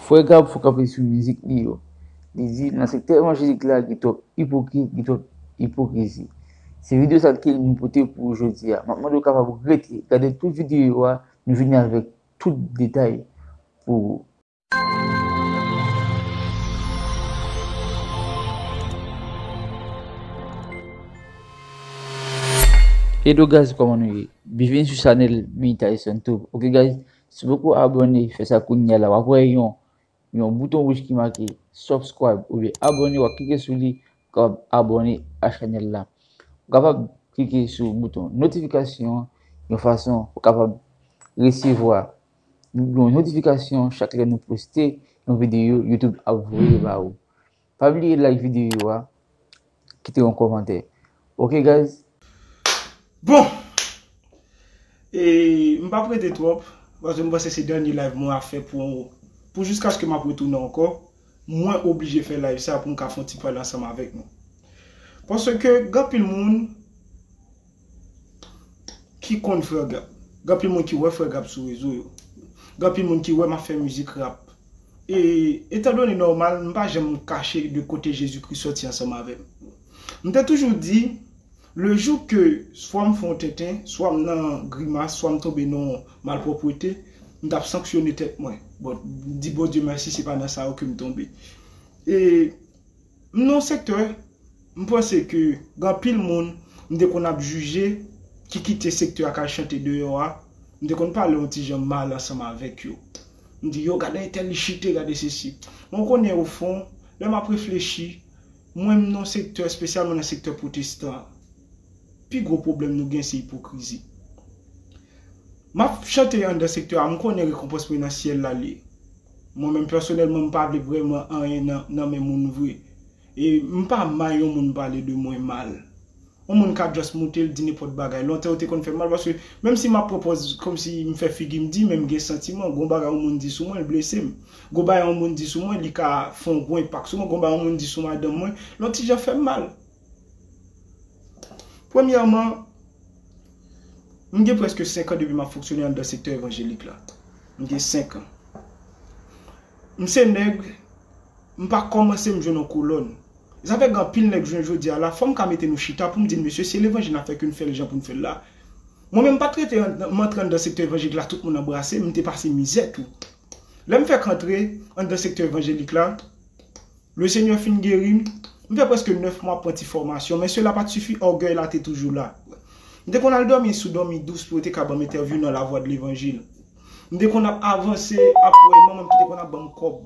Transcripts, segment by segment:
Frè Gab fò kanpe sou mizik li yo. Li di nan sektè evanjelik la gen twòp ipokrit, gen twòp ipokrizi. Se video sa ke nou pote pou ou jodi a. Map mande ou kapab rete, gade tout video yo a, nou vini avèk tout detay pou ou. Edo guys koman nou ye? Byenvini sou chanèl Meytayson tube ok guys Si poko abone fè sa kounya la wap wè yon yon bouton wouj ki make subscribe oubyen abone wap klike sou li pou kapab abone a chanèl la. Ou kapab klike sou bouton notifikasyon an yon fason pou kapab resevwa yon notifikasyon chak lè nou poste yon videyo YouTube ap voye ba ou. Pa bliye like video a kite yon komantè ok guys. Bon! E m pap rete twòp paske m panse se dènye live mwen ap fè pou pou jiskaske m ap retounen ankò mwen oblije fè live sa pou m ka fon ti pale ansanm avèk nou paske gen anpil moun ki konn frè gab gan pil moun ki wè frè gab sou rezo yo gan pil moun ki wèm ap fè mizik rap e etan done nòmal m pa janm kache de kote jezi kris sòti ansanm avèm m te toujou di le jou ke swa m fè yon tenten swa m nan grimas swa m tonbe nan yon malpwòpwete m tap sanksyone tèt mwen bòt m di bondye mèsi se pa nan sa yo kem tonbe e M nan yon sektè, m panse ke gen anpil moun m te konn ap jije ki kite sektè a k al chante deyò a, m te konn pale yon ti jan mal ansanm avèk yo. M di yo gade entèl li chite, gade sesi. Men ou konnen ofon, lè m ap reflechi, mwen m nan yon sektè, espesyalman nan sektè pwotestan an, pi gwo pwoblèm nou gen se ipokrizi. Map chante andan sektè a m konnen rekonpans mwen nan syèl la liye. Mwen menm pèsonèlman m pa vle vrèman anyen nan men moun vre. E m pa may yon moun pale de mwen mal. Yon moun ka just moute l di nenpòt bagay. Lontan yo te konn fè m mal paske menm si map pran pòz kòmsi m fè figi m di men m gen santiman. Gon bagay yon moun di sou mwen l blese m. Gon bagay yon moun di sou mwen li ka fon gwo enpak sou mwen. Gon bagay yon moun di sou madanm mwen l yon ti jan fè m mal. Premyèman, m gen prèske senk an depi m ap fonksyone anndan sektè evanjelik la. M gen senk an. M se nèg, m pa kòmanse m jwenn yon kolòn. Zafè gen anpil nèg jwenn jodi a la, fò m ka mete nou chita pou m di n mesye se levanjil n ap fè ke n fè l jan pou n fè l la. Mwen menm m pa t rete anndan, m antre anndan sektè evanjelik la tout moun anbrase m, m te pase mizè tou. Lè m fèk antre anndan sektè evanjelik la, Le Seigneur fin geri m. M fè prèske 9 mwa ap pran ti fòmasyon, men sela pat sifi, ògèy la te toujou la. M te konn al dòmi sou dòmi dous pou yo te ka banm entèvyou nan La Voix de l'Evangile. M te konn ap avanse ap wè manman m ki te konn ap banm kòb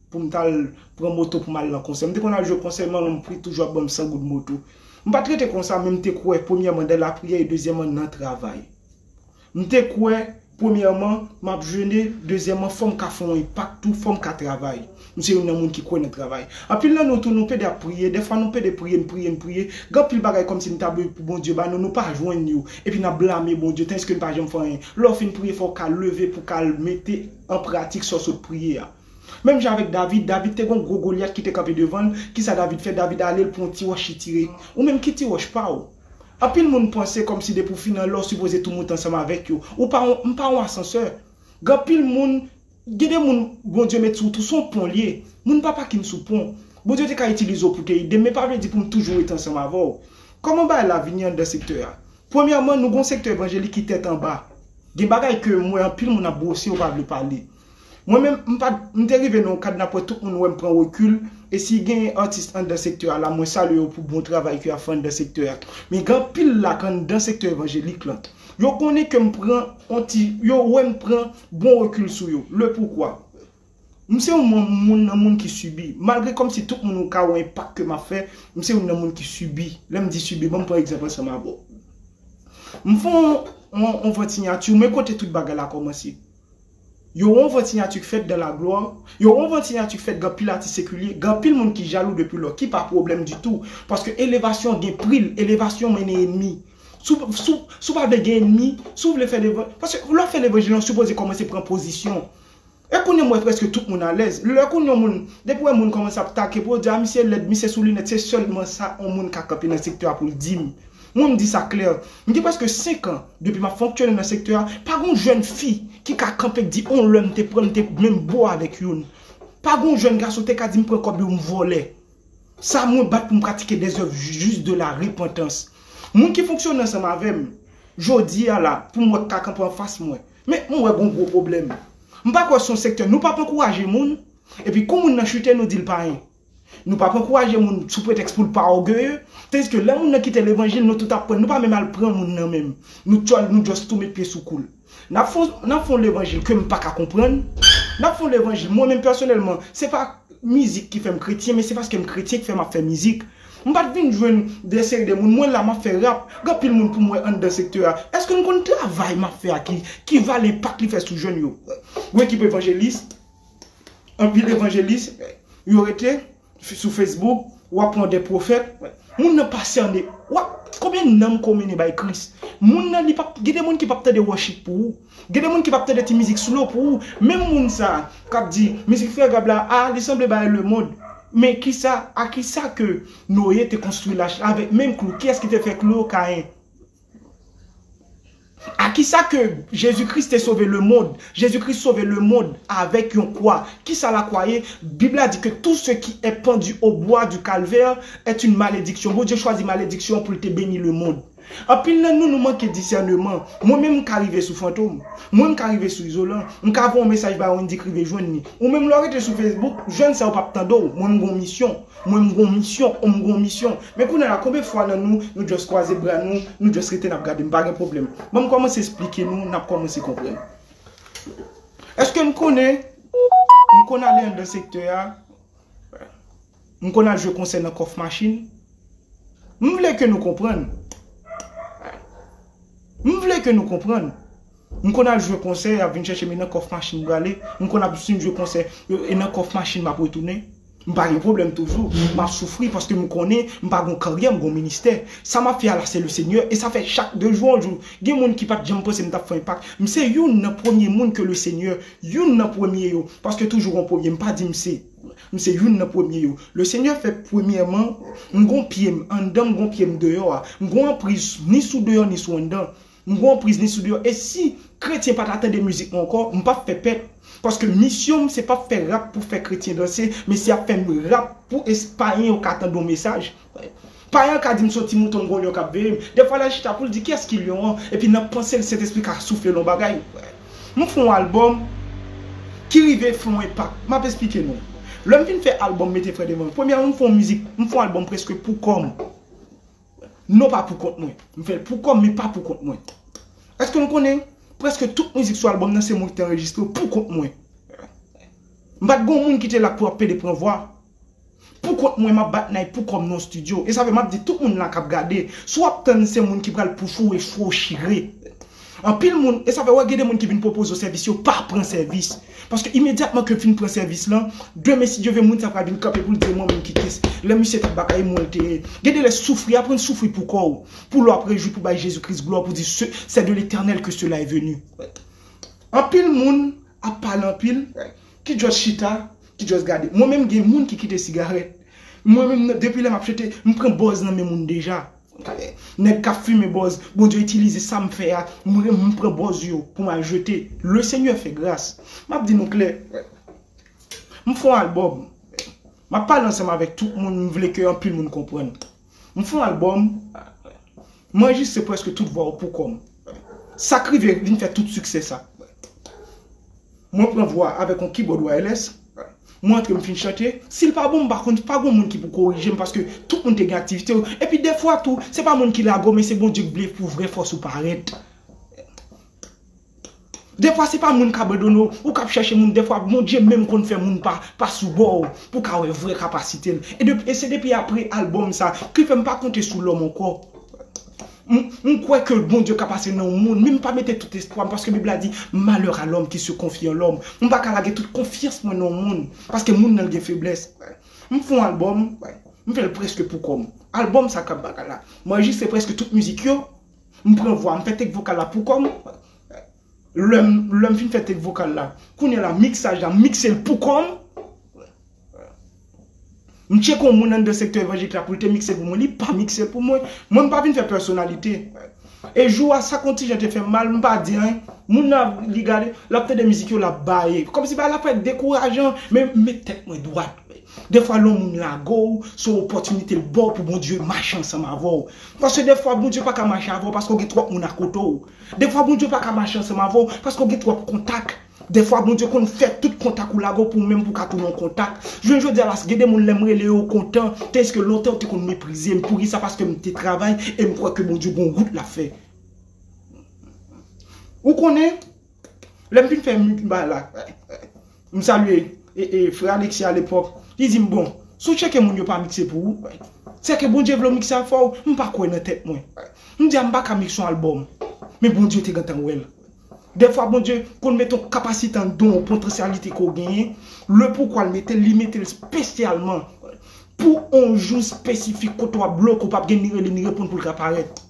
pou m tal pran moto pou m al nan konsè. M te konn al jwe konsè, manman m pri toujou ap banm 100 goud moto. M pat rete konsa men m te kwè premyèman dan lapriyè e dezyèman nan travay. M te kwè, premyèman, m ap jene, dezyèman, fò m ka fè yon enpak tou, fò m ka travay. M se youn nan moun ki kwè nan travay. Anpil nan nou tou, nou pede ap priye, dèfwa nou pede priye, n priye, n priye, gen anpil bagay kòmsi n ta vle pou Bondye ba nou, nou pa jwenn yo, epi n ap blame Bondye, tandiske n pa janm fè anyen. Lè w fin priye, fò w ka leve pou w ka al mete an pratik sa w sot priye a. Menm jan avèk David, David te gen yon gwo Golyat ki te kanpe devan l, kisa David fè? David ale, l pran yon ti wòch li tire. Ou menm, ki ti wòch pa w? Anpil moun panse kòmsi depi w fin anlè w sipoze tou moute ansanm avèk yo. Ou pa on, m pa on asansè. Gen anpil moun, gen de moun Bondye met sou wout, se on pon l ye. Moun pa pakin sou pon. Bondye te ka itilize w pou w te ede m, men pa vle di pou m toujou ret ansanm avè w. Kòman bagay la vini anndan sektè a? Premyèman, nou gen on sektè evanjelik ki tèt anba. Gen bagay ke m wè anpil moun ap bwose yo pa vle pale. Mwen menm, m pa, m te rive nan yon kad napwè tout moun wè m pran rekil, e si genyen atis anndan sektè a la mwen salye yo pou bon travay ke yap fè anndan sektè a. Men gen anpil la k anndan sektè evanjelik lan. Yo konnen ke m pran yon ti, yo wè m pran bon rekil sou yo. Le pourquoi? M se yon moun, moun nan moun ki sibi. Malgre kòm si tout moun ou ka wè enpak ke map fè, m se youn nan moun ki sibi. Lè m di sibi, ban m pran egzanp ansanm avè w. M fon yon vant sinyati w men kote tout bagay la kòmanse? Yo won vant sinyati k fèt dan la glwa, yo won vant sinyati k fèt gan pil atis sekilye, gan pil moun ki jalou depi lò, ki pa pwoblèm ditou, paske elevasyon gen pri l, elevasyon mennen enmi. Si w, si w, si w pa vle gen enmi, si w vle fè levan, paske lè w ap fè levanjil la w sipoze kòmanse pran pozisyon. E kounye m wè prèske tout moun alèz. Lè kounye yon moun, depi w wè moun kòmanse ap take pou yo di a misye lèd, misye sou linèt se sèlman sa yon moun ka kanpe nan sektè a pou l di m. Mwen m di sa klè, m gen prèske 5 an depi m ap fonktyone nan sektè a, pa gon jèn fi ki ka kanpe di on lè m te pran m te menm bo avèk youn. Pa gon jèn gason te ka di m pran kòb yo m vòlè. Sa mwen bat pou m pratike des oeuvres justes de la repentance. Moun ki fonksyone ansanm avè m jodi a la pou m wè k ka kanpe anfas mwen. Men m wè gon gwo pwoblèm. M pa kwè se yon sektè nou p ap ankouraje moun epi kou moun nan chute nou di l payen. Nou pap ankouraje moun sou pretèks pou l pa ògeye, tandiske lè moun nan kite levanjil nou tout ap pran, nou pa menm al pran moun nan menm, nou tchòl nou just tou met pye sou kou l. Nap fon nap fon levanjil ke m paka konprann, nap fon levanjil mwen menm pèsonèlman se pa mizik ki fè m kretyen men se paske m kretyen ki fè map fè mizik. M pat vin jwenn de seri de moun mwen la map fè rap, gen anpil moun pou m wè anndan sektè a, èske nou konn travay map fè a ki ki valè enpak li fè sou jèn yo? Ou ekipe evanjelis? Anpil evanjelis yo rete sou Facebook wap pran de pwofèt moun nan pa sène wap konbyen nanm ko mennen bay Kris moun nan li pap gen de moun ki pap tande worship pou ou gen de moun ki pap tande ti mizik slow pou ou menm moun sa kap di mizik frè Gab la a li sanble bay lemond men kisa a kisa ke Noé te konstwi lach la avèk menm klou kiyès ki te fè klou yo Caïn. A kisa ke Jezi Kris te sove lemond? Jezi Kris sove lemond avèk yon kwa. Kisa lakwa ye? Bib la di ke tout ce qui est pendu au bois du calvaire est une malédiction. Bondye chwazi malediksyon pou l te beni lemond. Anpil nan nou, nou manke disèneman. Mwen menm m ka rive sou Fantom. Mwen m ka rive sou Izolan. M ka voye yon mesaj bay Wendyy k rive jwenn li. Ou menm lè w rete sou Facebook, jèn sa yo p ap tande w. Mwen m gen yon misyon. Mwen m gon misyon ou m gon misyon men kounye la konbyen fwa nan nou nou just kwaze bra nou nou just rete nap gade m pa gen pwoblèm banm kòmanse esplike nou nap kòmanse konprann eske n konnen m konn ale anndan sektè a m konn al jwe konsè nan kòf machin m vle ke nou konprann m vle ke nou konprann M konn al jwe konsè, y ap vin chèche m e nan kòf machin m prale. M konn ap si m jwe konsè, e nan kòf machin m ap retounen. M pa gen pwoblèm toujou. M ap soufri paske m konnen m pa gon karyè, m gon ministè. Sa m ap fè a la se le Senyè e sa fè chak de jou an jou. Gen moun ki pa t janm panse m t ap fè enpak. M se youn nan premye moun ke le Senyè, youn nan premye yo, paske toujou gon premye, m pa di m se, m se youn nan premye yo. Le Senyè fè premyèman m gon pye m anndan m gon pye m deyò a. M gon anpriz ni sou deyò ni sou anndan. M gon priz ni sou deyò e si kretyen pa ta tande mizik mwen ankò m pap fè pèt paske misyon m se pap fè rap pou fè kretyen danse men se ap fè m rap pou es payen yo ka tande yon mesaj payen an ka di m son ti mouton m gon lyon kap veye m dèfwa lal chita poul di kiyès ki lyon an epi nan panse l sentespri ka soufle l yon bagay m fon album ki rive fon enpak map esplike nou lèm fin fè album mete frè devan m premyèman m fon mizik m fon album preske pou kò m Non pa pou kont mwen. M fè l pou kò m men pa pou kont mwen. Eske nou konnen prèske tout mizik sou albòm nan se mwen ki te anrejistre yo pou kont mwen. M pa t gen yon moun ki te la pou ap pede pran vwa. Pou kont mwen m ap bat nay pou kò m nan yon stidyo. E sa fè m ap di tout moun la k ap gade, si w ap tann se moun ki pral poufou e fou w chire. Anpil moun, e sa fè wè gen de moun ki vin pwopoze w sèvis yo pa pran sèvis. Paske imedyatman ke fin pran sèvis lan, demen si Dye vle moun sa pral vin kanpe pou l di w mwen menm ki kes. Lè misye t ap batay mwen l te ye. Gen de lè soufri, aprann soufri pou kò w. Pou lè w ap rejwi pou bay Jezi Kris glwa pou di se c'est de l'Eternel que cela est venu. Anpil moun ap pale anpil ki just chita, ki just gade. Mwen menm gen moun ki kite sigarèt. Mwen menm depi lè m ap chante, m pran bòz nan men moun deja. Gade nèg kap fimen bòz Bondye itilize sam fè a m pran bòz yo pou m al jete le senyè fè gras map di nou klè m fon albòm map pale ansanm avèk tout moun m vle ke anpil moun konprann m fon albòm m anrejistre prèske tout vwa yo poukò m sak rive vin fè tout siksè sa. Mwen pran vwa a avèk yon kibòd wireless, mwen antre m fin chante, si l pa bon m pa konn, pa gon moun ki pou korije m paske tout moun te gen aktivite yo, epi dèfwa tou se pa moun ki lague w men se Bondye k vle pou vrè fòs ou parèt. Dèfwa se pa moun k abandone w, ou k ap chèche moun, dèfwa Bondye menm konn fè moun pa pa sou bò w pou w ka wè vrè kapasite l. E se depi apre albòm sa ki fè m pa konte sou lòm ankò. M kwè ke Bondye ka pase nan yon moun, men m pa mete tout espwa m, paske Bib la di, Malheur à l'homme qui se confie en l'homme. M pa ka lage tout konfyans mwen nan yon moun, paske moun nan l gen feblès. M fè yon albòm, m fè l prèske pou kò m. Albòm sa kap bagay la, m anrejistre prèske tout mizik yo, m pran vwa, m fè take vokal la pou kò m. Lè m fin fè take vokal la, kounye a la miksaj la, m mikse l pou kò m. M tcheke yon moun anndan sektè evanjelik la pou l te mikse pou mwen, li pa mikse l pou mwen. Mwen m pa vin fè pèsonalite. E jou a sa kon ti jan te fè m mal, m pa di anyen. Moun nan ap li gade, l ap tande mizik yo, l ap baye. Kòm si bagay la parèt dekourajan, men m met tèt mwen dwat. Defwa lè yon moun lage w, se yon opòtinite l ba w pou Bondye mache ansanm avè w. Paske defwa Bondye pa ka mache avè w paske w gen twòp moun akote w. Defwa Bondye pa ka mache ansanm avè w paske w gen twòp kontak. Dèfwa Bondye konn fè tout kontak ou lage w pou menm pou ka tounen yon kontak. Jounen jodi a la gen de moun lè m rele yo yo kontan, tandiske lontan yo te konn meprize m. Poukisa? Paske m te travay e m kwè ke Bondye gen yon wout l ap fè. Ou konnen, lè m fin fè m bay la, m salye frè Alexis alepòk, li di m bon, si w tcheke moun yo pa mikse pou ou, se ke Bondye vle w mikse afè w? M pa kwè nan tèt mwen. M di a m pa ka mikse yon albòm. Men Bondye te gentan wè l. Dèfwa Bondye konn mete yon kapasite anndan w, yon potansyalite ke w genyen, le poukwa l mete l, li mete l spesyalman pou yon jou spesifik kote w ap bloke, ou p ap gen ni rele ni reponn pou l ka parèt.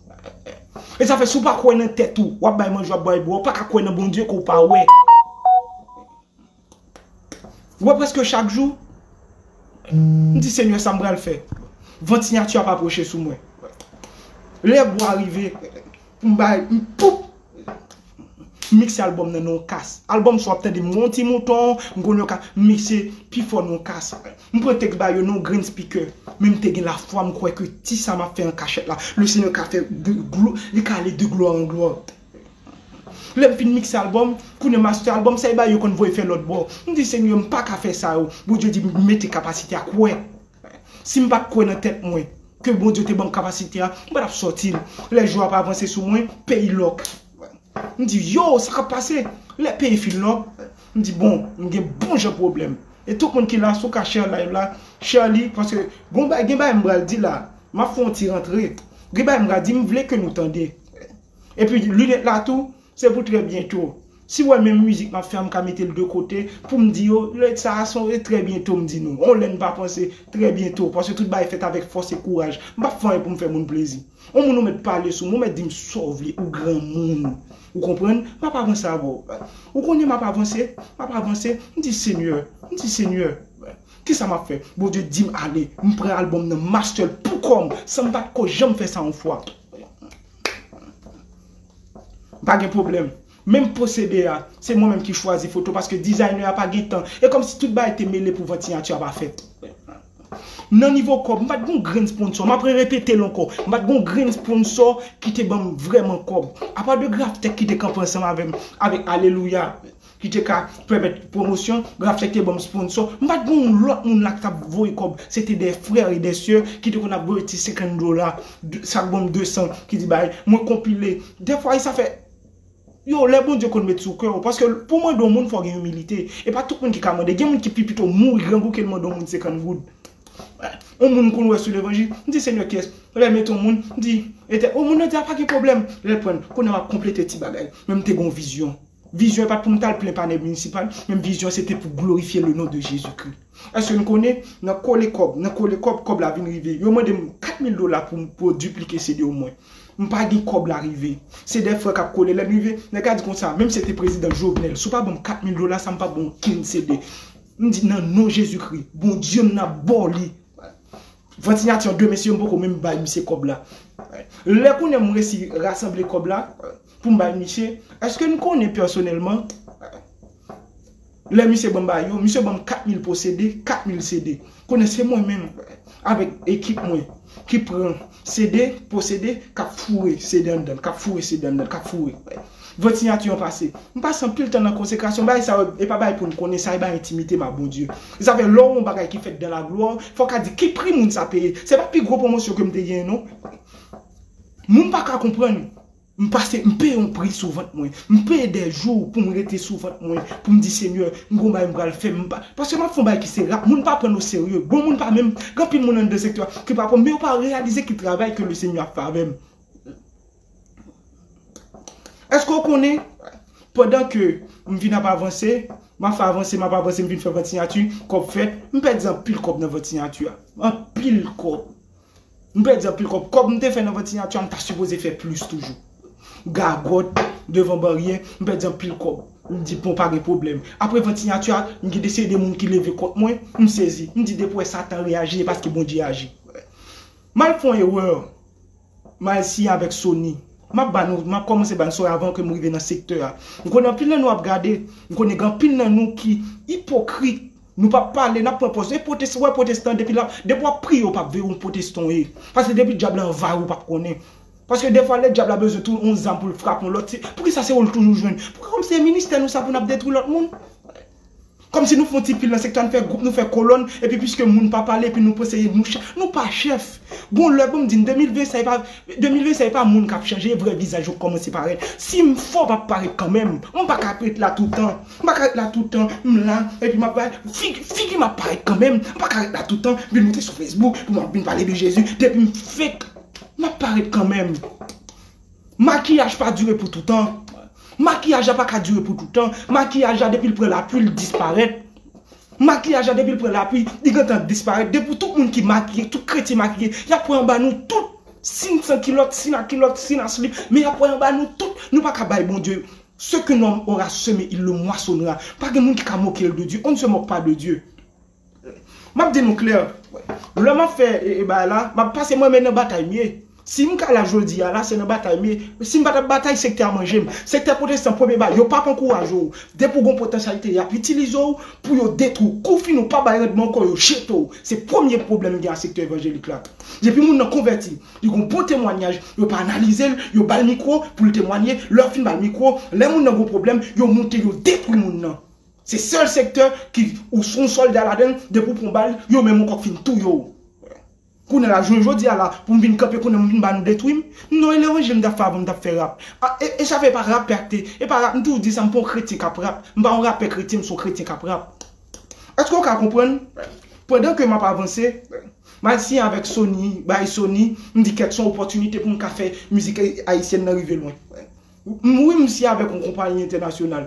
E sa fè si w pa kwè nan tèt ou, w ap bay manje, w ap bay bwè, ou pa ka kwè nan Bondye ke w pa wè. Ou wè preske chak jou m di senyè sa m pral fè vant siyati ap apwoche sou mwen lè gou a rive m bay m poup m mikse albòm nan nan yon kas albòm sa w ap tande m wè yon ti mouton m konn yo ka m mikse pi fò nan yon kas m pran tèks ba yo nan yon grenn spikè men m te gen lafwa m kwè ke ti sa m ap fè an kachèt la le senyè ka fè li ka ale de glwa an glwa. Lèm fin mikse album, kounye master album sa e bagay yo konn voye fè lòt bò. M di Senyè m paka fè sa yo, Bondye di m mete kapasite a kwè. Sim pat kwè nan tèt mwen ke Bondye te banm kapasite a, m patap sòti l. Lè jou ap avanse sou mwen, peyi lòk. M di yo sa kap pase? Lè peyi fin lòk, m di bon m gen bon jan pwoblèm. E tout moun ki la si w ka share live la, share li paske gon bagay gen bagay m pral di la, map fè yon ti rantre. Gen bagay m pral di m vle ke nou tande. Epi lunet la tou se pou trè byento. Si wè menm mizik map fè a m ka mete l de kote poum di yo lunet sa a se yon trè byento m di nou. On lè n pa panse trè byento paske tout bagay fèt avèk fòs e kouraj. M pap fè anyen pou m fè moun plezi. On moun ou mèt pale sou mwen ou mèt di m sa w vle ou granmoun ou konprann map avanse avè w. Ou konnen map avanse map avanse m di senyè m di senyè kisa map fè Bondye di m ale m pran album nan m achte l pou kò m san m pat ko janm fè sa yon fwa. Pa gen pwoblèm. Menm pwosede a, se mwen menm ki chwazi foto paske dizayne a pa gen tan. E kòmsi tout bagay te mele pou vant siyati a pa fèt. Nan nivo kòb, m pa t gen yon grenn sponsò. M ap rerepete l ankò. M pa t gen yon grenn sponsò ki te ban m vrèman kòb. Apa de Graftech ki te kanpe ansanm avè m, avèk Alelouya. ki te ka pèmèt pwomosyon, Graphtech te ban m sponsò, m pa t gen yon lòt moun la ki t ap voye kòb, se te des frères et des sœurs ki te konn ap voye ti 50 dola, sa k ban m 200 ki di bay, mwen konpile, dèfwa e sa fè Yo, lè Bondye konn met sou kè w, paske pou w mande yon moun fò w gen imilite, e pa tout moun ki ka mande, gen moun ki pi pito mouri grangou ke l mande yon moun 50 goud. Yon moun m konn wè sou levanjil, m di Senyè kyès, lè l mete yon moun, m di, Etè, o moun nan di a pa gen pwoblèm, lè l pran l, kounye a m ap konplete ti bagay, men m te gen yon vizyon. Vizyon an pa t pou m t al plen panè minisipal, men vizyon an se te pou glorifye lenon de Jezikri. Èske n konnen, nan kole kòb, nan kole kòb, kòb la vin rive. Yo mande m 4 mil dola pou m pou diplike CD yo mwen. M pa gen kòb la rive. Se de frè k ap kole. Lè n rive, nèg la di konsa, menm si se te prezidan Jovenel, si w pa ban m 4 mil dola sa m pa p ban w okenn CD. M di, nan non Jezikri, Bondye m nan ap ba w li. Van siyati an, de mesye yo m poko menm bay misye kòb la. Lè kounye a m resi rasanble kòb la, Pou m bay misye? Eske n konnen pèsonèlman? Lè misye ban m bay yo, misye ban m 4000 posede, 4000 CD. Konnen se mwen menm avèk ekip mwen ki pran CD, posede, k ap foure CD anndan l, k ap foure CD anndan l, k ap foure. Vant siyati an pase. M pase anpil tan nan konsekrasyon. Bagay sa yo, e pa bagay pou n konnen, sa e bagay entimite m ak Bondye. Se sa fè lè w wè yon bagay ki fèt dan laglwa, fò w ka di ki pri moun sa peye. Se pa pi gwo pwomosyon ke m te genyen non. Moun pa ka konprann M pase m peye yon pri sou vant mwen. M peye dè jou pou m rete sou vant mwen pou m di Senyè m gon bagay m pral fè m pa paske m ap fè yon bagay ki se rap moun pa pran n oserye bon moun pa menm gen anpil moun anndan sektè a ki pa pran m men yo pa reyalize ki travay ke Lesenyè ap fè avè m Èske w konnen pandan ke m vin ap avanse m ap fè avanse m ap avanse m vin fè vant siyati kòb fèt m pèdi anpil kòb nan vant siyati a anpil kòb M pèdi anpil kòb. Kòb m te fè nan vant siyati a m ta sipoze fè plis toujou. Gagòt devan baryè, m pèdi anpil kòb. M di bon pa gen pwoblèm. Apre vant siyati a, m gen de seri de moun ki leve kont mwen. M sezi. M di depi wè satan reyaji e paske Bondye aji. M al fè yon erè. M al siyen avèk Sony. M ap ba nou, m ap kòmanse ba nou sa avan ke m rive nan sektè a. M konnen anpil nan nou ap gade. M konnen gen anpil nan nou ki ipokrit. Nou pap pale nap pran pòz e pwotes ou wè pwotestan depi lap depi wap priye ou pap veye ou pwotestan ou ye paske depi dyab la anvayi ou pap konnen paske defwa lè dyab la bezwen tou yon zam poul frape yon lòt se poukisa se oul toujou jwenn poukisa kòm se ministè nou sa pou nap detwi lòt moun kòm si nou fon ti pil nan sektè an fè gwoup nou fè kolòn epi piske moun pa pale epi nou panse nou chè nou pa chèf gon lè banm di n 2020 sa epa 2020 sa epa moun kap chanje e vrè vizaj yo k kòmanse parèt sim fò pap parèt kanmenm m paka ap ret la toutan M pa ka ret la toutan, m la epi m ap bay figi m ap parèt kanmenm, m pa ka ret la toutan, vin monte sou Facebook pou m ap vin pale de Jezi, depi m fake m ap parèt kanmenm. Makiyaj pa dire pou toutan, makiyaj la pa ka dire pou toutan, makiyaj la depi l pran lapli l disparèt, makiyaj la depi l pran lapli li gentan disparèt, depi tout moun ki makiye, tout kretyen makiye y ap wè anba nou tout, si n san kilòt, si n a kilòt, si n a slip men y ap wè anba nou tout, nou pa ka bay Bondye. Ce que l'homme aura seme il le moissonnera pa gen moun ki ka moke l de Dieu, on ne se moque pas de Dieu map di nou klè lè map fè bagay la map pase mwen men nan batay m ye sim ka la jodi a la se nan batay m ye sim pa tap batay sektè a manje m sektè pwotestan premye bagay yo pap ankouraje w depi w gen yon potansyalite yap itilize w pou yo detwi w kou fini w pa bay randman ankò yo jete w se premye pwoblèm m gen ak sektè evanjelik la depi moun nan konvèti Li gon bon temwanyaj, yo pa analize l, yo ba l mikwo pou l temwanye, lè yo fin ba l mikwo, lè moun nan gon pwoblèm, yo moute yo detwi moun nan. Se sèl sektè ki ou s on sòlda ladan l, depi ou pran bal, yo menm ankò k fin touye w. Kounye a la, jounen jodi a la, pou m vin kanpe kounye a m vin ba nou detwi m? Non e lè yon je m t ap fè avan m t ap fè rap. A e e sa fè e pa rapè ak te, e pa rap m toujou di sa m pa yon kretyen k ap rap, m pa yon rapè kretyen m s on kretyen k ap rap. Èske w ka konprann? Pandan ke m ap avanse. Mal siyen avèk Sony, bay Sony, m di kèt son opòtinite pou m ka fè mizik ayisyèn nan rive lwen. M wi m siyen avèk yon konpayi entènasyonal.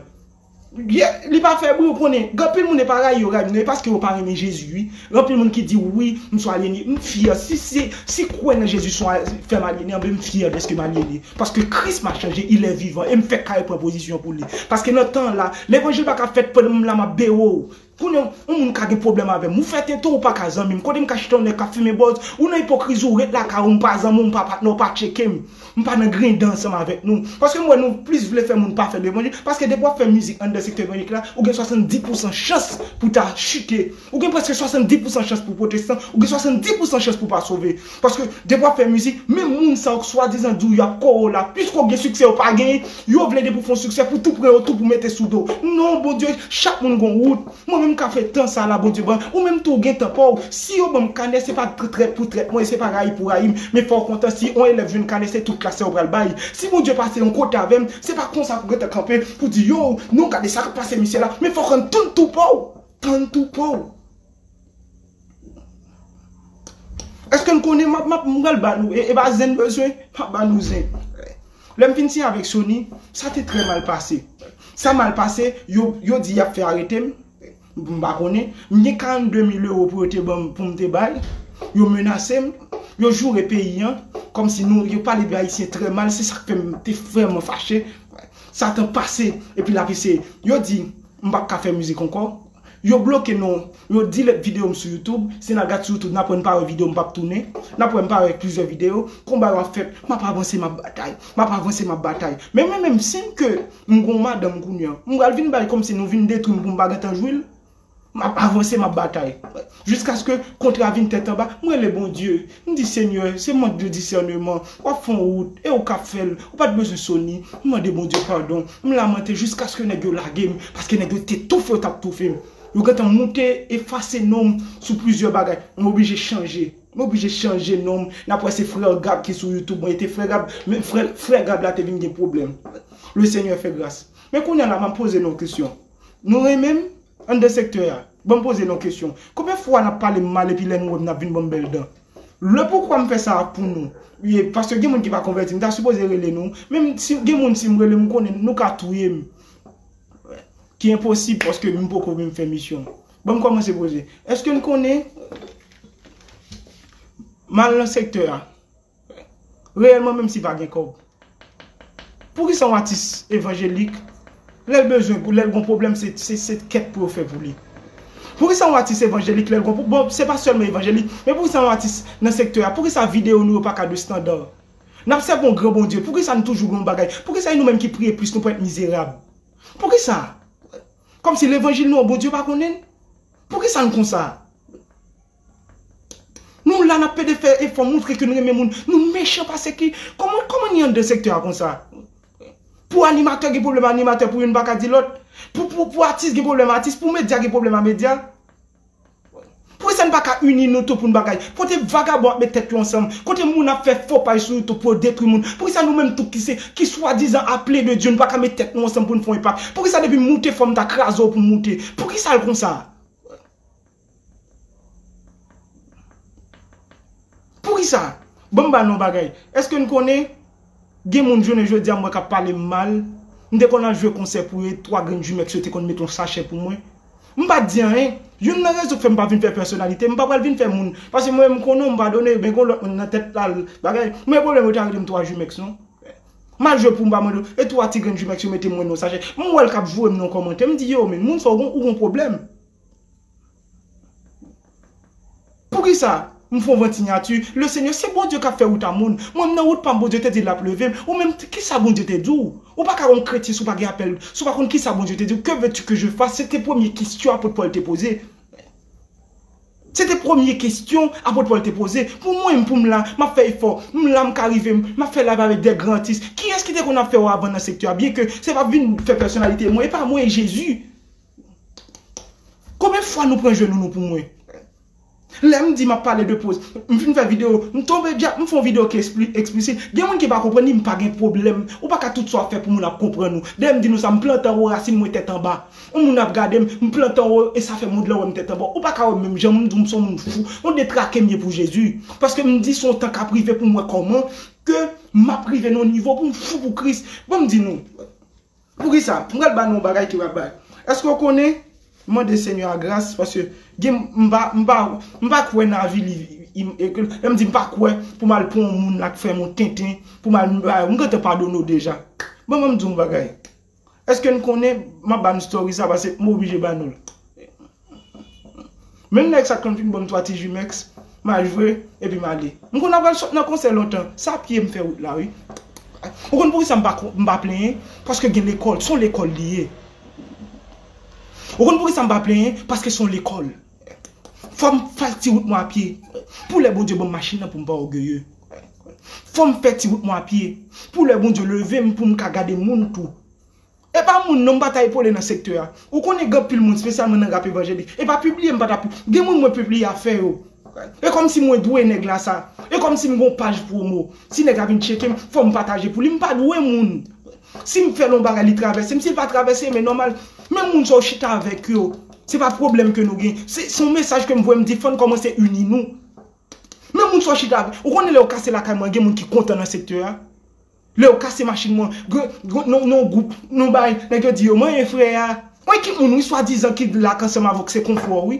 Yeah, li pa fè bri ou konnen, gen anpil moun e pa rayi yo rayi m nan, e paske yo pa renmen Jezi wi. Gen anpil moun ki di wi m sou alyene, m fyè si se, si kwè nan Jezi son fè m alyene anben m fyè dèske m alyene. Paske Kris m'a chanje, il est vivant e m fèk kare pran pozisyon pou li. Paske nan tan la, levanjil pa ka fèt pandan m la m'ap bewo ou. Kounye w yon moun ka gen pwoblèm avè m ou fè tenten ou pa ka zanmi m kote m ka chita yon nèg k ap fimen bòz ou nan ipokrizi ou ret lakay ou m pa zanmi w m pa patnè w pa tcheke m m pa nan grindan ansanm avèk nou paske m wè nou plis vle fè moun pa fè levanjil paske depi w ap fè mizik anndan sektè evanjelik la ou gen 70 pousan chans pou ta chite ou gen prèske 70 pousan chans pou w pwotestan ou gen 70 pousan chans pou w pa sove Paske depi wap fè mizik, menm moun sa yo k swadizan diw yap kore w la, piske w gen siksè yo pa genyen, yo vle depi w fon siksè pou tou pran yo tou pou mete sou do w. Non Bondye, chak moun gon wout. Mwen menm kap fè tan sa la Bondye ban, ou menm tou ou gen tan paw. Si yo banm kanè se pa trèt pou trèt mwen e se pa rayi pou rayi m, men fòw kontan si on elèv jwenn kanè se tout klas la yo pral bay. Si Bondye pase yon kote avèm, se pa konsa pou gentan kanpe pou di yow, non gade sak pase misye la, men fòk an tann tou paw, tann tou paw. Eske'n konnen map map m pral ba nou e e pa zen'm bezwen map ba nou zen. Lè'm fin siyen avèk Sony, sa te trè mal pase. Sa mal pase, yo yo di y'ap fè arete'm, m pa konnen, m gen 42 mil euro pou yo te ban'm pou'm te bay, yo menase'm, yo joure peyi an, kòm si nou, yo pale de ayisyen trè mal, se sak fè'm te vrèman fache. Satan pase epi l'ap eseye. Yo di m pap ka fè mizik ankò. Yo bloke non Yo delete video m sou youtube Si na gad sou youtube nap wè m pa wè video m pap tounen Nap wè m pa wè plizyè video Konba yo ap fèt Map avanse map batay Map avanse map batay Men mwen menm sim ke m gon madanm kounya M pral vin bay komsi nou vin detwi m pou m pa gentan jwi l Map avanse map batay Jiskaske kontra vin tèt anba, m rele Bondye. M di, Senyè, se mank de disèneman. W ap fè yon wout, e ou ka fè l. Ou pa t bezwen Sony. M mande Bondye padon. M lamante jiskaske nèg yo lage m, paske nèg yo te toufe yo t ap toufe m. Yo gen tan moute, efase non m sou plizyè bagay. M oblije chanje. M oblije chanje non m. N ap wè se Frère Gab ki sou YouTube mwen. E te Frè Gab, men frè, frè Gab la te vin gen pwoblèm. Le Seigneur fait grâce. Men kounye a la, m ap poze nou yon kesyon. Nou renmen m? Anndan sektè a. Ban m poze n on kesyon. Konbyen fwa n ap pale m mal epi lè nou wè m n ap vin ban m bèl dan? Le poukwa m fè sa a pou nou. Ye, paske gen moun ki pa konvèti. M ta sipoze rele nou. Men m, si gen moun si m rele m m konnen nou ka touye m. Ki enposib paske m poko vin fè misyon. Ban m kòmanse poze. Èske n konnen? M al nan sektè a. Reyèlman menm si pa gen kòb. Poukisa yon atis evanjelik lèl bezwen pou lèl gon pwoblèm se se kèt pou yo fè pou li. Poukisa yon atis evanjelik lèl gon bon se pa sèlman evanjelik men poukisa yon atis nan sektè a poukisa video nou yo paka de standard. Nap sèvi yon gran Bondye poukisa nou toujou gen yon bagay poukisa e nou menm ki priye plis nou pral èt mizerab. Poukisa? Kòmsi levanjil nou an Bondye pa konnenl? Poukisa nou konsa? Nou la nap pede fè efò moutre ke nou renmen moun, nou mechan pase ki, kòman kòman ni anndan sektè a konsa? Pou animatè gen pwoblèm animatè pou youn pa ka di lòt, pou pou pou atis gen pwoblèm atis, pou medya gen pwoblèm a medya. Pou kisa nou pa ka ini nou tou pou nou bagay? Kote vagabon ap met tèt yo ansanm, kote moun ap fè fo paj sou youtube pou yo detwi moun, pou kisa nou menm tou ki se ki swadizan aple de Dye nou pa ka met tèt nou ansanm pou nou fon enpak? Pou kisa depi moute fòm ta kraze w pou moute? Pou kisa l konsa? Poukisa? Ban m ba nou yon bagay. Èske n konnen gen moun jounen jodi a m wè k ap pale m mal? M te konn al jwe konsè pou yo e twa grenn jumeks yo te konn mete yon sachè pou mwen. M pa t di anyen. Youn nan rezon k fè m pa vin fè pèsonalite, m pa pral vin fè moun. Paske mwen menm m konnen w, m padone yo men gen yon lòt moun nan tèt la l bagay. M gen pwoblèm yo ta rele m twa jumeks non. M al jwe pou m pa mande yo e twa ti grenn jumeks yo mete mwen nan yon sachè. M wè l k ap voye m nan yon kòmantè, m di yo men moun sa w gen yon pwoblèm. Poukisa m fon vant sinyati le senyè se Bondye kap fè wout a moun mwen m nan wout pam Bondye te di lap levem ou menm kisa Bondye te diw ou pa ka yon kretyen si w pa gen apèl si w pa konn kisa Bondye te diw que veux tu que je fasse se te premye kestyon apot Pòl te poze se te premye kestyon apot Pòl te poze pou mwen pou m la map fè efò m la m ka rive map fè live avèk de gran atis kiyès ki te konn ap fè yo avan nan sektè a byen ke se pap vin fè pèsonalite mwen epa mwen e Jezi Konbyen fwa nou pran jenou nou pou mwen? Lèm di map pale de poz, m fin fè video, m tonbe dyab, m fon video ki eksplisit, gen moun ki pa konprann ni m pa gen pwoblèm, ou pa ka tout sa wap fè pou moun ap konprann ou. Dèyè m di nou sa, m plante anwo rasin mwen tèt anba. On moun ap gade m, m plante anwo e sa fè mond lan wèm tèt anba. Ou pa ka wèm menm jan m di w m son moun fou, on detrake m ye pou Jezi. Paske m di son tan kap rive pou m wè kòman ke map rive nan on nivo pou m fou pou Kris. Banm di nou. Poukisa? M pral ba nou yon bagay ki pral bay. Eske w konnen, mande Senyè a gras, paske gen m pa m pa m pa kwè nan avili lè m di m pa kwè pou m al pran yon moun la k fè m yon tenten pou m al m ba yo m gentan padone w deja. Bon ban m di w yon bagay, eske n konnen, m ap ba nou story sa paske m oblije ba nou l. Menm nèg sa t konn vin banm 3 ti jumex ma jwe epi male m konn ap pral sot nan konsè lontan sa pyem fè wout la wi ou konn poukisa m pa plenyen paske gen lekòl son lekòl li ye ou konn poukisa m pa plenyen paske son lekòl fòm fè ti wout mwen a pye pou lè Bondye banm machin nan poum pa ògeye fòm fè ti wout mwen a pye pou lè Bondye levem poum ka gade moun tou. E pa moun non m pa ta epole nan sektè a. Ou konnen gen anpil moun spesyalman nan rap evanjelik. E pa pibliye m pa ta pi. Gen moun mwen pibliye afè yo. E kòmsi mwen dwe nèg la sa. E kòmsi m gen yon paj pwomo. Si nèg la vin tcheke m, fò m pataje pou li. M pa dwe moun. Si m fè l yon bagay li travèse m. Si l pa travèse m e nòmal. Menm moun sa ou chita avèk yo. Se pa pwoblèm ke nou gen. Se yon mesaj ke m voye m di fò n kòmanse ini nou. Menm moun sa ou chita avèk. Ou konnen lè ou kase lakay mwen gen moun ki kontan nan sektè a. Lew kase machine mwen gen yon group nou bay neg yo di yo manyen frè a mwen ki moun wi swa dizan ki lak ansanm avw se konfo wi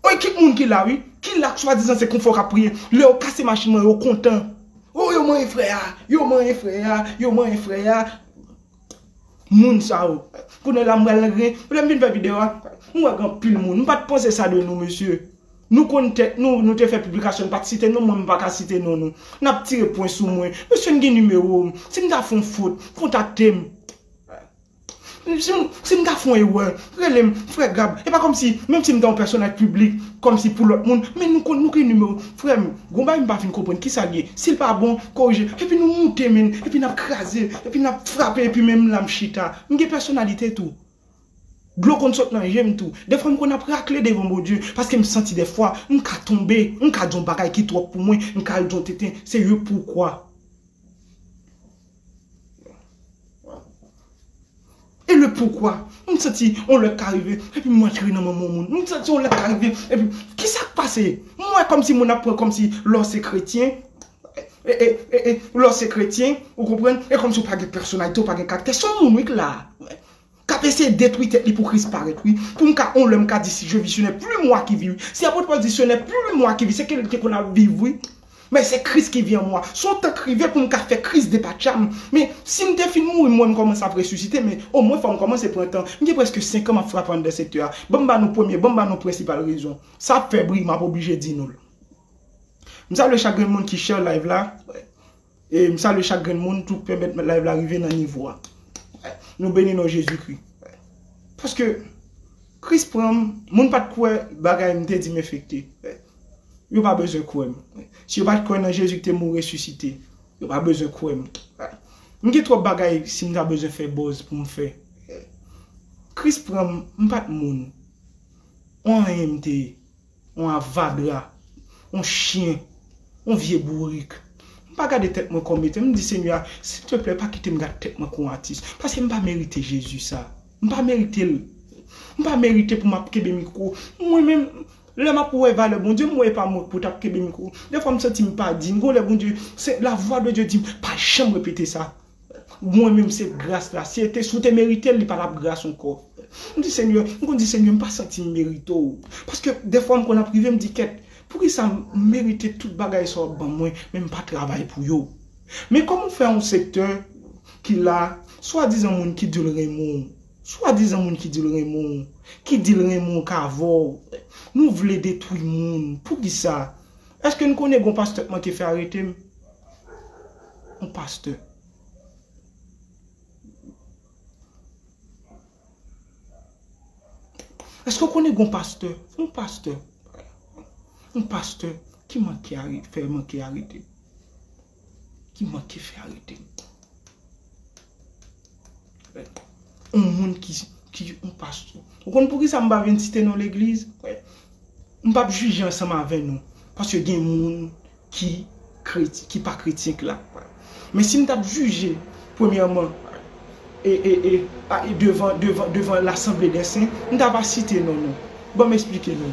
mwen ki moun ki la wi ki lak swa dizan se konfo kap priye lew kase machine mwen yo kontan oh yo manyen frè a yo manyen frè a yo manyen frè a. Moun sa yo. Kounye la m pral nan grenn. Lè m fin fè video a, m wè gen anpil moun. M pat panse sa de nou mesye. Nou konn tèt nou, nou te fè piblikasyon, nou pat site non mwen, m paka site non nou. Nap tire pwen sou mwen. Mesye n gen nimewo m. Si m ta fon fot, kontakte m. Si m ta fon erè, Rele m, frè Gab, e pa kòmsi, menm si m ta yon pèsonaj piblik, kòmsi pou lòt moun, men nou konn, nou gen nimewo m. Frè m, gon bagay m pa fin konprann, kisa l ye? Si l pa bon, korije. Epi nou moute men, epi n ap kraze, epi n ap frape, epi men m la m chita. M gen pèsonalite tou. Dlo konn sot nan je m tou. Dèfwa m konn ap rakle devan Bondye, paske m santi dèfwa, m ka tonbe, m ka di yon bagay ki twòp pou mwen, m ka al di yon tenten, se yo poukwa. E le poukwa? M santi yon lè ka rive epi m antre nan manman yon moun. M santi yon lè ka rive epi ki sa k pase? M wè kòm si moun ap pran kòm si lè w se kretyen, lè w se kretyen, ou konprann, e kòm si w pa gen pèsonalite, w pa gen karaktè. Se yon moun wi k la a. Kap eseye detwi tèt li pou Kris parèt wi, pou m ka on lè m ka di si je vis ce n'est plus moi qui vis wi, si Apot Pòl di ce n'est plus moi qui vis se ke li te konn ap viv wi, men se Kris ki vi an mwa, se yon tan k rive pou m ka fè Kris depatcha m, men si m te fin mouri m wè m kòmanse ap resisite men omwen fò m kòmanse pran tan, m gen prèske 5 an m ap frape anndan sektè a, ban m ba nou premye, ban m ba nou prensipal rezon sa ap fè bri m ap oblije di nou l. M salye chak grenn moun ki share live la. M salye chak grenn moun tou k pèmèt live la rive nan nivo a. Nou beni non Jezikri. Paske Kris pran m, moun pa t kwè bagay m te di m efekte. Yo pa bezwen kwè m. Si yo pa t kwè nan Jezi k te mouri resisite, yo pa bezwen kwè m. M gen twòp bagay si m ta bezwen fè buzz pou m fè. Kris pran m, m pa t moun. On anyen m te ye. On avadra. On chyen. On vye bourik. M pa gade tèt mwen kòm etem, m di Senyè a, silteplè pa kite m gad tèt mwen kon atis. Paske m pa merite Jezi sa. M pa merite l. M pa merite pou m ap kenbe mikwo. Mwen menm, lè m ap wè valè Bondye, m wè e pa mwen k pou t ap kenbe mikwo. Dèfwa m santi m pa diy. Gon lè Bondye, se lavwa de Dye di m, pa janm repete sa. Mwen menm se gras la. Si te si w te meritel li pa tap gras ankò. M di senyè, m konn di senyè m pa santi m merite w. Paske dèfwa m konn ap rive m di kèt, poukisa m merite tout bagay sa w ap ban mwen men m pa travay pou yo. Men kòman w fè yon sektè ki la, swadizan moun ki di l renmen w, swadizan moun ki di l renmen w, ki di l renmen w k avè w, nou vle detwi moun. Poukisa? Eske n konnen gen yon pastè k manke fè arete m? yon pastè. Eske ou konnen yon pastè, yon pastè, yon pastè ki manke arete, fè manke arete, ki manke fè arete. On moun ki, ki on pastè. Ou konn poukisa m pa vin site non legliz? M pap jije ansanm avè nou. Paske gen moun ki kreti, ki pa kretyen k la. Men si m t ap jije, premyèman, e, e, e, a e devan, devan, devan lasanble dè sen, m ta pa site non nou. Ban m esplike nou.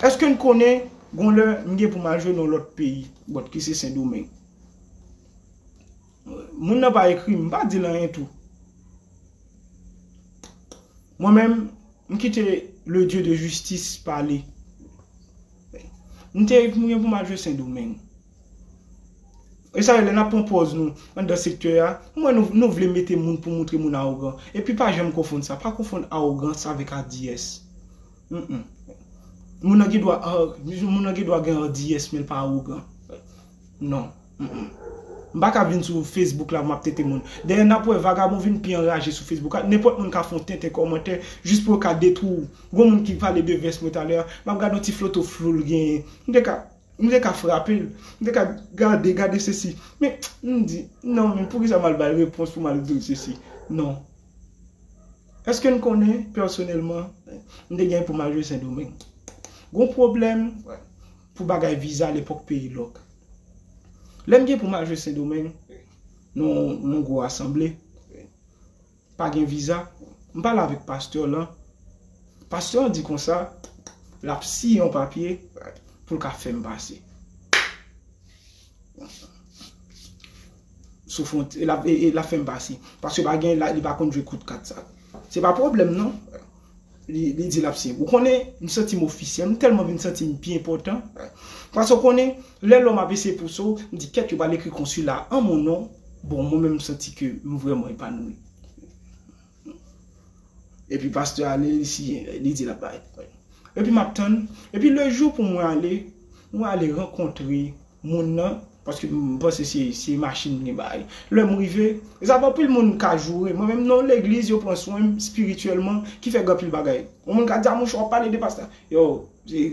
Eske n konnen gon lè m gen pou m al jwe nan lòt peyi, bòt ki se Sendomeng. Moun nan pa ekri m pa dil anyen tou mwen menm m kite le Dieu de justice pale m te m gen pou m al jwe sendomeng esay lè nap pran pòz nou anndan sektè a m wè nou nou vle mete moun pou moutre moun awogan epi pa janm konfonn sa pa konfonn awogans avèk adiyès humm moun nan gen dwa moun nan gen dwa gen adiyès men l pa awogan non. M paka vin sou Facebook la pou map tenten moun. Dayè nap wè vagabon vin pi anraje sou Facebook la, nenpòt moun ka fon tenten kòmantè jis pou yo ka detwi w. Gon moun ki pale de vès mwen talè a, map gade yon ti floto flou l genyen. M te ka m te ka frape l, m te ka gade gade sesi. Men m di non men poukisa mal bay repons pou mal dil sesi. Non. Eske n konnen pèsonèlman m te gen pou mal jwe sendomeng. Gon pwoblèm. Pou bagay viza lepòk peyi lòk. Lè m gen pou m al jwe Sendomeng nan yon gwo asanble, pa gen viza, m pale avèk pastè lan, pastè an di konsa, l ap siyen yon papye pou l ka fè m pase. sou fwont e lap e lap fèm pase paske pa gen li pa konn jwe kout kat sa se pa pwoblèm non li di lap se ou konnen m santi m ofisyèl m tèlman vin santi m pi enpòtan paske ou konnen lè lòm ap eseye pouse w m di kèt yo pral ekri konsila an mon non bon mwen menm m santi ke m vrèman epanouyi. Epi pastè ale li siyen li di lap bay pou mwen epi map tann epi le jou pou mwen ale mwen ale rankontre moun nan paske m panse se machin li bay lèm rive e sa anpil moun ka joure mwen menm non legliz yo pran swen m spirityèlman ki fè anpil bagay yon moun ka di a monchè wap pale de pastè yo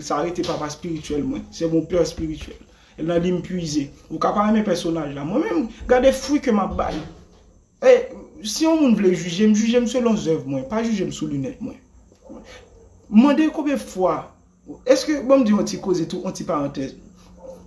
sa rete papa spirityèl mwen se mon père spirituel e nan li m pwize ou ka pa renmen pèsonaj la mwen menm gade fwi ke map bay. E, si yon moun vle jije m, jije m selon zèv mwen, pa jije m sou linèt mwen. M mande konbyen fwa, èske, ban m di yon ti koze tou, yon ti parantèz.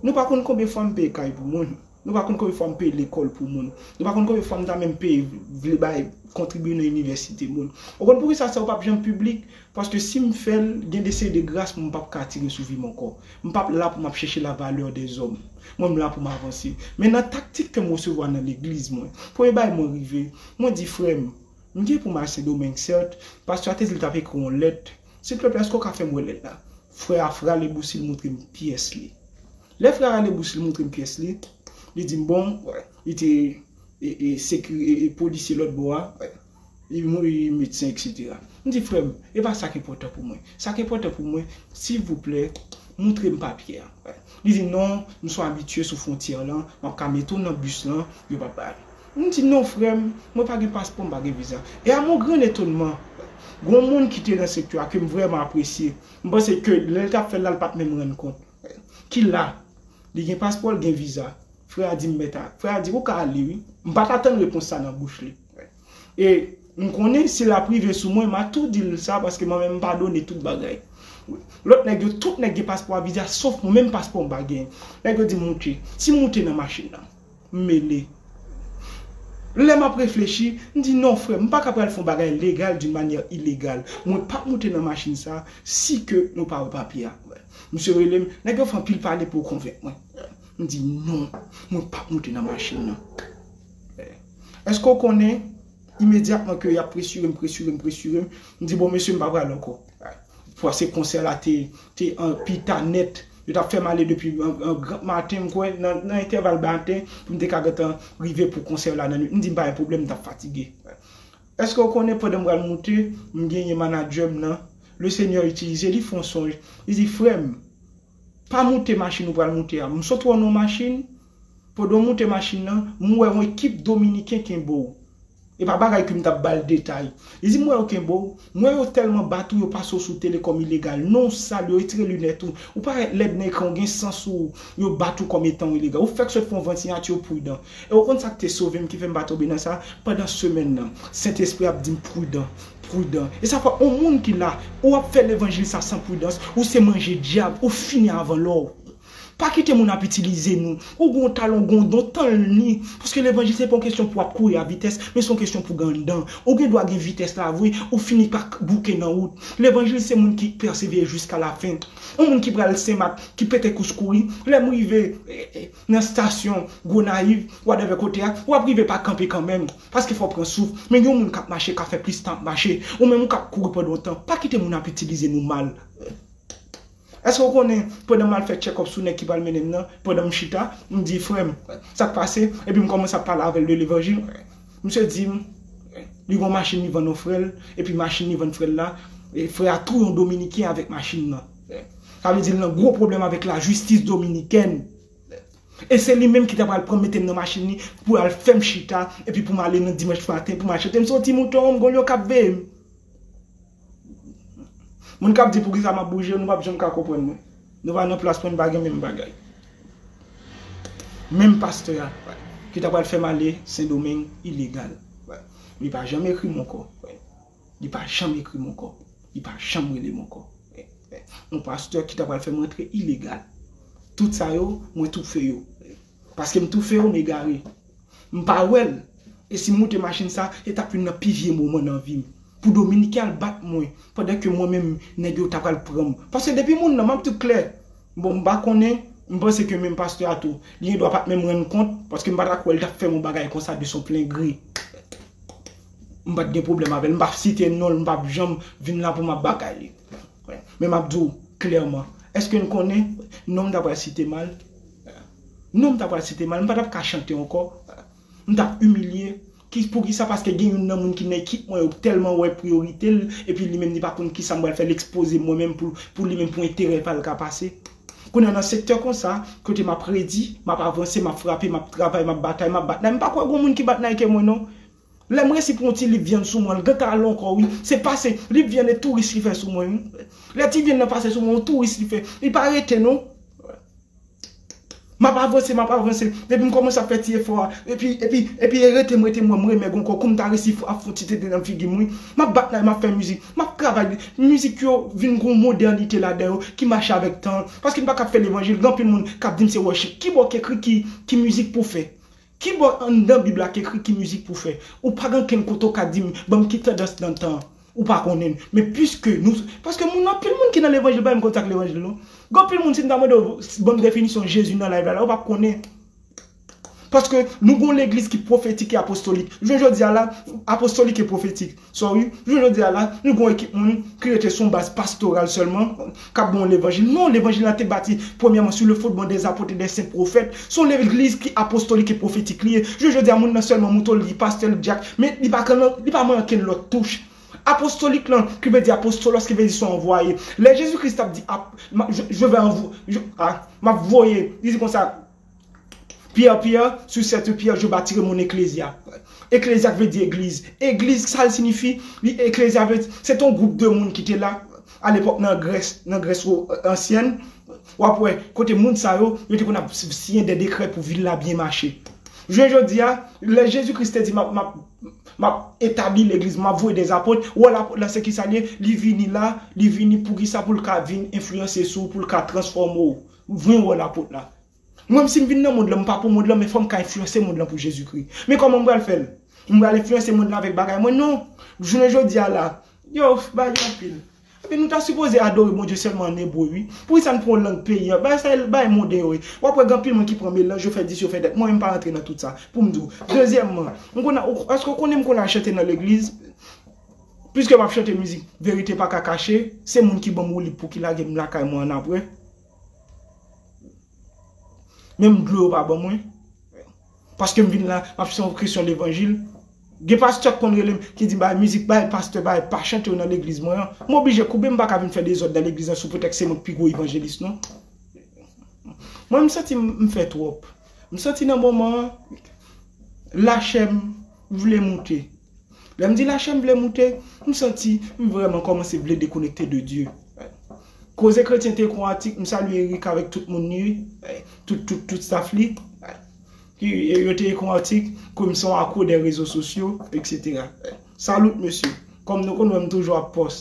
Nou pa konn konbyen fwa m peye kay pou moun, nou pa konn konbyen fwa m peye lekòl pou moun, nou pa konn konbyen fwa m ta menm peye, vle bay, kontribye nan inivèsite moun. Ou konn poukisa sa yo pa p janm piblik? Paske si m fè l, gen de seri de gras mwen pap ka tire sou vi m ankò. M pap la pou m ap chèche la valeur des hommes. Mwen m la pou m avanse. Men nan taktik ke m resevwa nan legliz mwen, premye bagay mwen rive, mwen di frè m, m gen pou m al Sendomeng sèt, pastè a te di l t ap ekri yon lèt, silvpleplè èske w ka fè m wè lèt la? Frè a rale bousi l montre m pyès li. Lè frè a rale bousi l montre m pyès li, li di m bon, li te e e sekiri e e polisye lòt bò a, Li mouri medsen eksetera. M di frè m, e pa sa k enpòtan pou mwen. Sa k enpòtan pou mwen, silvouplè, moutre m papye a. Li di non, m sou abitye sou fwontyè lan, m ap ka mete w nan bis lan, yo pa bay. M di non frè m, mwen pa gen paspò, m pa gen viza. E a mon grand etonman, gen yon moun ki te nan sektè a ke m vrèman apresye. M panse ke lè l t ap fè l la, l pa t menm rann kont. Ki la Li gen paspò l gen viza Frè a di m mèt a Frè a di ou ka ale wi M pa t atann repons sa nan bouch li E m konnen si l ap rive sou mwen m a tou di l sa paske mwen menm m padone tout bagay Lòt nèg yo tout nèg gen paspò a viza sof mwen menm paspò m pa gen Nèg yo di m moute Si m moute nan machin nan. M mele. Lè m ap reflechi, m di non frè m, m pa ka pral fè yon bagay legal d'une manière illégale. Mwen p ap moute nan machin sa a si ke nou pa wè papye a. Misye rele m, nèg yo fè anpil pale pou yo konvenk mwen. M di non, mwen p ap moute nan machin nan. Èske w konnen, imedyatman ke y ap presire m, presire m, presire m, m di bon mesye m pa pral ankò. Fwase konsè la te te an pi ta nèt. Yo t ap fè m ale depi gran maten, m kwè nan entèval maten pou m te ka gentan rive pou konsè la nan nuit. M di m pa gen pwoblèm, m t ap fatige. Èske ou konnen pandan m pral moute, m genyen manadjè m nan, Lesenyè itilize li fè yon sonj, li di, Frè m, pa moute machin ou pral moute a. M sot wè w nan yon machin, pandan w moute machin nan, m wè yon ekip Dominiken kenbe w. E pa bagay kem tap bal detay. Li di m wè yo kenbe w, m wè yo tèlman bat ou yo pase w sou tele kòm ilegal. Non w sal, yo retire linèt ou, ou parèt lèd nan ekran ou gen san sou ou, yo bat ou kòm etan w ilegal. Ou fèk sot fè yon vant siyati yo pridan. E ou konn sak te sove m ki fè m pa tonbe nan sa, pandan semèn nan Sentespri ap di m pridan, pridan. E sa fè yon moun ki la, ou ap fè levanjil sa san pridans, ou se manje dyab, ou fini avan lè w. Pa kite moun ap itilize nou. Ou gen yon talan, ou gen yon don, tann li. Paske levanjil se pa yon kesyon pou ap kouri a vitès, men se yon kesyon pou gen anndan. Ou gen dwa gen vitès la vre, ou fini pa k bouke nan wout. Levanjil se moun ki pèsevere jiska lafen. Yon moun ki pral Senmak, ki pete kous kouri, lè m rive nan stasyon Gonayiv, wadèvè kote a, w ap rive pa kanpe kanmenm. Paske fò w pran souf. Men gen yon moun k ap mache, k ap fè plis tan ap mache. Ou menm ou k ap kouri pandan yon tan. Pa kite moun ap itilize nou mal. Eske ou konnen pandan m al fè tchèkòp sou nèg ki pral mennen m nan, pandan m chita, m di frè m sa k pase, epi m kòmanse ap pale avè l de levanjil, misye di m li gen yon machin li vann yon frè l, epi machin li vann frè l la, frè a touye yon dominiken avèk machin nan. Sa vle di l nan gwo pwoblèm avèk lajistis dominikèn. E se li menm ki ta pral pran m mete m nan machin li pou l al fè m chita, epi pou m ale nan dimanch maten pou m al chante m se yon ti mouton, m gen yon lyon k ap veye m. Moun kap di poukisa map bouje nou pap janm ka konprann mwen. Nou pa nan plas pou n pa gen menm bagay. Menm pastè a ki ta pral fè m ale sendomeng ilegal. Li pa janm ekri m ankò. Li pa janm ekri m ankò. Li pa janm rele m ankò. Yon pastè ki ta pral fè m antre ilegal. Tout sa yo mwen toufe yo. Paske m toufe yo m egare. M pa wèl e sim moute machin sa e tap youn nan pi vye moman nan vim pou dominiken al bat mwen pandan ke mwen menm nèg yo ta pral pranm paske depi moun nan map diw klè bon m pa konnen m panse ke menm pastè a tou li gendwa pat menm rann kont paske m pata kwèl tap fèm yon bagay konsa de son plen gri m pat gen pwoblèm avèl m pap site nonl m pap janm vin la poum ap batay li men map diw klèman eske'n konnen nonm ta pral site mal. Non m ta pral site mal, m pa tap ka chante ankò, m tap imilye, ki poukisa paske gen youn nan moun ki nan ekip mwen yo k tèlman wè priyorite l epi li menm li pa konn kisa m pral fè l ekspoze mwen menm pou pou li menm pou enterè pa l ka pase. Kounye a nan sektè konsa, kote m ap redi, m ap avanse, m ap frape, m ap travay, m ap batay, m ap bat nay, m pa kwè gon moun ki bat nay ke mwen non. Lè m resi pran ti lip vyann sou mwen l gentan al ankò wi, se pase lip vyann e touris li fè sou mwen wi, lè ti vyann nan pase sou mwen yon touris li fè, li pa rete non, m ap avanse m ap avanse epi m kòmanse ap fè ti efò a epi epi epi e rete m rete m wè m remèg ankò kou m ta resi ap fon ti tete nan figi m wi, m ap bat la e m ap fè mizik, m ap travay li, mizik yo vin gon modènite ladan yo ki mache avèk tan an, paske m pa ka ap fè levanjil, gen anpil moun k ap di m se worship, kibò k ekri ki ki mizik pou fè? Ki bò anndan bib la t ekri ki mizik pou fè? Ou pa gen okenn kote ou ka di m banm ki tandans nan tan an. Ou pa konnen l. Men piske nou paske moun anpil moun ki nan levanjil pa menm konn sa k levanjil non. Gen anpil moun si m ta mande w banm definisyon Jezi nan live la la ou pap konnen. Paske nou gon legliz ki pwofetik e apostolik. Jounen jodi a la apostolik e pwofetik. Sorry, jounen jodi a la, nou gen yon ekip moun ki rete sou yon baz pastoral sèlman, k ap ban w levanjil. Non, levanjil la te bati premyèman sou le fondman dè zapot e dè sen pwofèt. Se yon legliz ki apostolik e pwofetik li ye. Jounen jodi a, moun nan sèlman mouton, li pastè, li dyak, men li pa kan, li pa manyen okenn lòt touch. Apostolik lan, ki vle di apostolos, ki vle di se yon anvwaye. Lè Jezi Kris t ap di, ap, m a, je, je vais envo, je, a, m ap voye, li di konsa, Pierre Pierre, sous cette pierre je bâtirai mon ecclesia Ecclesia vle di egliz Egliz sa l sinifi Li ecclesia vle di Se t on gwoup de moun ki te la A lepòk nan Grès Nan Grès ansyèn W ap wè Kote moun sa yo Yo te konn ap siyen dè dekrè pou vil la byen mache Jounen jodi a Lè Jezi Kris te di M ap M ap M ap etabli legliz mwen M ap voye dè apot Wòl apot la se kisa l ye Li vini la Li vini poukisa Pou l ka vin enfliyanse sou ou Pou l ka transfòme ou M vin wòl apot la. Mwen si m vin nan mond lan m pa pou mond lan men fò m ka enfliyanse mond lan pou Jezikri. Men kòman m pral fè l? M pral enfliyanse mond lan avèk bagay mwen? Non! Jounen jodi a la, yo ba li anpil. Ebyen nou ta sipoze adore Bondye sèlman an ebre wi. Poukisa n pran lang peyi an? Bagay sa e bagay monden yo ye. W ap wè gen anpil moun ki pran melanj, yo fè dis, yo fè dat. Mwen menm m pa rantre nan tout sa. Pou m di w. Dezyèmman, m konn al, èske w konnen m konn al chante nan legliz? Piske map chante mizik verite paka kache se moun ki banm woulib pouki lagem lakay mwen annapre menm dlo yo pa ban mwen paskem vin la map se yon kresyon levanjil gen pastè ki konn relem ki di bay mizik bay pastè bay pa chante yo nan legliz mwen an m oblije koube m paka vin fè dezòd nan legliz lan sou pretèks se mwen ki pi gwo evanjelis non mwen m santi m fè twòp m santi nan moman an lachem vle moute Lèm di lachèm vle moute, m santi m vrèman kòmanse vle dekonekte de Dye. Koze kretyente kon atik, m salye Erica avèk tout moun li, tout tout tout staff li, yo te ekon atik ke m son akro dè rezo sosyo, etc. Salute mesye, kòm nou konn wè m toujou ap pòs,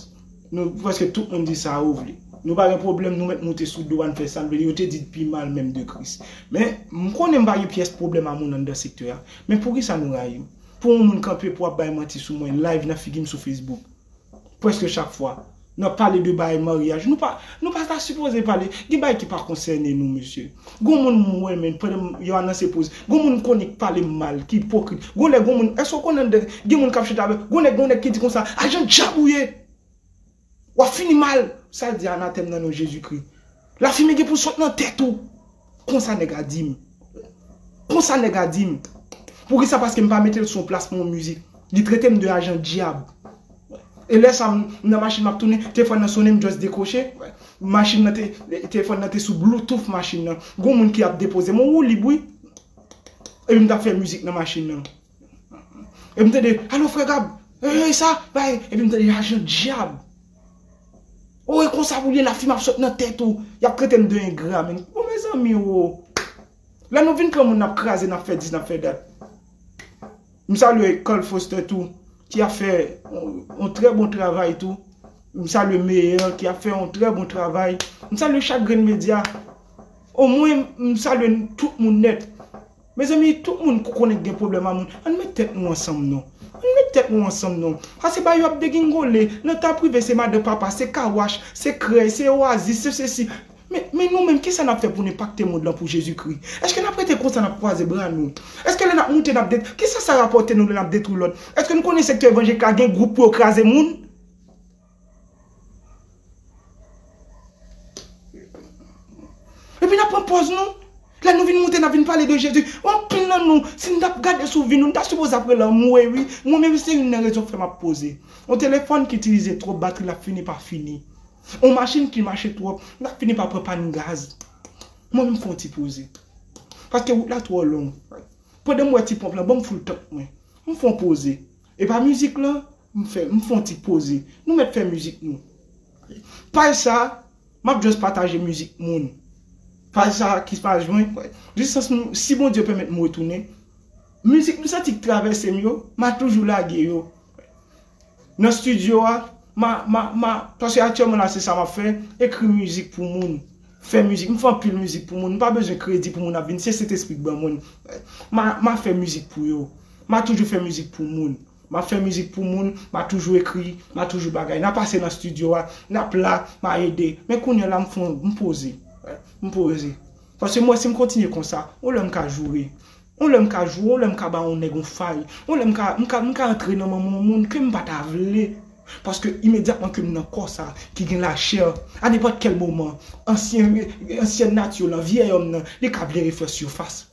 nou prèske tout moun di sa yo vle. Nou pa gen pwoblèm, nou mèt moute sou do a, n fè sa n vle, yo te di dpi mal menm de Kris. Men, m konnen m pa gen pyès pwoblèm a moun anndan sektè a, men poukisa nou rayi m? Pou yon moun kanpe pou ap bay manti sou mwen live nan figi m sou Facebook preske chak fwa nan pale de bagay maryaj nou pa nou pa ta sipoze pale gen bagay ki pa konsène nou mesye gon moun m wè men pandan m yo anonse poz gon moun m konnen k pale m mal ki ipokrit gon lè gon moun èske w konnen gen moun k ap chita avè w gon lè gon nèg ki di konsa ajan dyab ou ye Wap fini mal sal di anatèm nan non jezi kri lafimen gen pou sot nan tèt ou konsa nèg a dim konsa nèg a dim poukisa paskem pa metel son plas mwen yon mizik li tretem de ajan dyab e lè sa m nan machin map tounen tefòn nan sonnen m just dekroche machin nan te tefòn nan te sou bloutouf machin nan gon moun ki ap depozem ou ou lib wi epi m tap fè mizik nan machin nan. Epi m tande, alo frè Gab, eey sa, bay, epi m tande lajan dyab. O e konsa pou l ye la fim ap sot nan tèt ou, y ap trete m de engra men. Bon mezanmi o. Lè nou vin pran moun n ap kraze, n ap fè dis, n ap fè dat. M salye Carl Foster tou ki ap fè yon trè bon travay tou. M salye Meyer ki ap fè yon trè bon travay. M salye chak grenn medya. O mwen m salye tout moun nèt. Mezanmi tout moun k konnen k gen pwoblèm a moun ann met tèt nou ansanm non ann met tèt nou ansanm non ase ba yo ap degingole nan ta prive se madan papa se kawach se krèy se oasis se sesi men men nou menm kisa nap fè pou n enpakte mond lan pou jezikri èske nap rete konsa nap kwaze bra nou èske lè nap moute nap det kisa sa rapòte nou lè nap detwi lòt èske nou konnen sektè evanjelik la gen gwoup pou yo kraze moun. Epi n ap pran pòz nou, lè nou vin moute n ap vin pale de Jezi. Anpil nan nou, si n t ap gade sou vi nou, nou ta sipoze ap rele anmwey wi. Mwen menm se youn nan rezon frè m ap poze. On telefòn ki itilize twòp batri l ap fini pa fini. On machin ki mache twòp, l ap fini pa pran pàn gaz. Mwen menm fon ti poze. Paske wout la twò long. Pandan m wè ti ponp lan ban m foul tank mwen. M fon poze. E pa mizik lan? M fè m fon ti poze. Nou mèt fè mizik nou. Paj sa Map just pataje mizik moun. Paj sa ki paj mwen Jiskas m si Bondye pèmèt m retounen Mizik m santi k travèse m yo ma toujou lage yo Nan studio a ma ma ma paske aktyèlman la se sa map fè ekri mizik pou moun Fè mizik m fè anpil mizik pou moun m pa bezwen kredi pou moun ap vin se sentespri k ban mwen Ma ma fè mizik pou yo Ma toujou fè mizik pou moun. Map fè mizik pou moun, ma toujou ekri, ma toujou bagay. Na pase nan studio a, nap la, ma ede. Men kounyè la m fon, m poze. M poze. Paske m wè si m kontinye konsa, yon lè m ka joure. Yon lè m ka joure, yon lè m ka ba yon nèg yon fay. Yon lè m ka, m ka, m ka antre nan manman yon moun ke m pa ta vle. Paske imedyatman ke m nan kò sa ki gen lachè, a nenpòt kèl moman, ansyen, ansyen nati w lan, vyè òm nan, li ka vle refè sifas.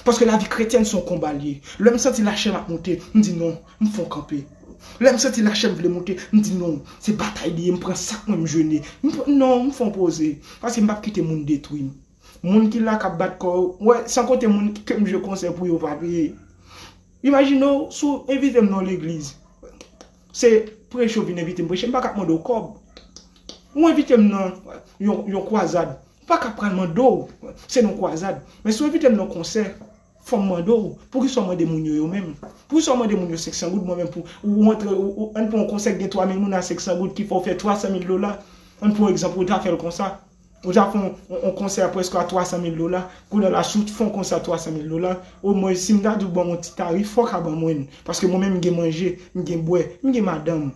Paske lavi kretyèn se yon konba l ye. Lè m santi lachè m ap moute, m di non, m fon kanpe. Lè m santi lachè m vle moute, m di non, se batay li ye, m pran sak mwen m jene. M pran, non, m fon poze. Paske m p ap kite moun detwi m. Moun ki la k ap bat kò yo, wè, san konte moun ke m jwe konsè pou yo pa peye. Imajine w si w envite m nan yon legliz. Se preche ou vin envite m preche, m pa ka mande w kòb. Ou envite m nan yon kwazad, m pa ka pral mande w, se nan kwazad. Men si w envite m nan konsè, fò m mande w, poukisa w mande moun yo yo menm? Poukisa w mande moun yo 500 goud, mwen menm pou, ou antre, ann pran yon konsè ki gen 3000 moun a 500 goud ki fè w fè 300000 dola, ann pran yon egzanp ou ta fè l konsa. Ou ta fè yon konsè prèske a 300 mil dola, kounye a la si w t fè yon konsè a 300 mil dola, omwen si m ta di w ban m yon ti tarif fò w ka ban mwen l, paske mwen menm m gen manje, m gen bwè, m gen madanm.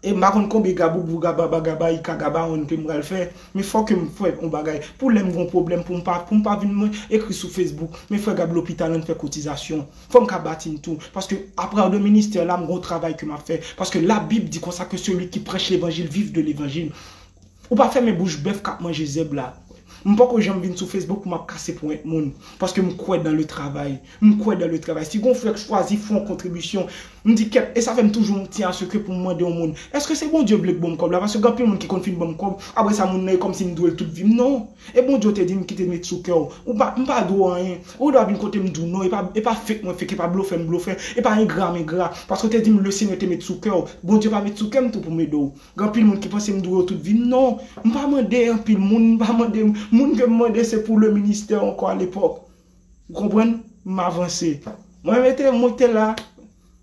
E m pa konn konbe gaboubou gaba bagaba ika gabaonn ke m pral fè, men fò ke m fè yon bagay pou lè m gen yon pwoblèm pou m pa pou m pa vin mwen ekri sou Facebook men frè gad lopital an n fè kotizasyon. Fò m ka bati m tou, paske apart de ministè la m gen yon travay ke m ap fè, paske labib di konsa ke seli ki prèch levanjil viv de levanjil. Ou pa fèmen bouch bèf kap manje zèb la. M poko janm vin sou Facebook pou map kase ponyèt moun. Paske m kwè dan le travay. M kwè dan le travay. Si gon frè k chwazi fon kontribisyon, m di kèt e sa fè m toujou m tyen a sekrè pou m mande yon moun, Eske se Bondye vle k bonm kòb la? Paske gen anpil moun ki konn fin banm kòb, apre sa moun nan e kòmsi m dwe l tout vi m. Non! E Bondye w te di m ki te met sou kè w. Ou pa, m pa dwe w anyen. Ou dwa vin kote m di w non. E pa, e pa fake mwen fake, e pa blofè m blofè, e pa engra m engra. Paske w te di m le Senyè te met sou kè w. Bondye pa met sou kè m tou pou m ede w. Gen anpil moun ki panse m dwe yo tout vi m non, m pa mande anpil moun, m pa mande moun ke m mande se pou le ministè ankò a lepòk. Ou konprann? M avanse. Mwen mete, mwen te la,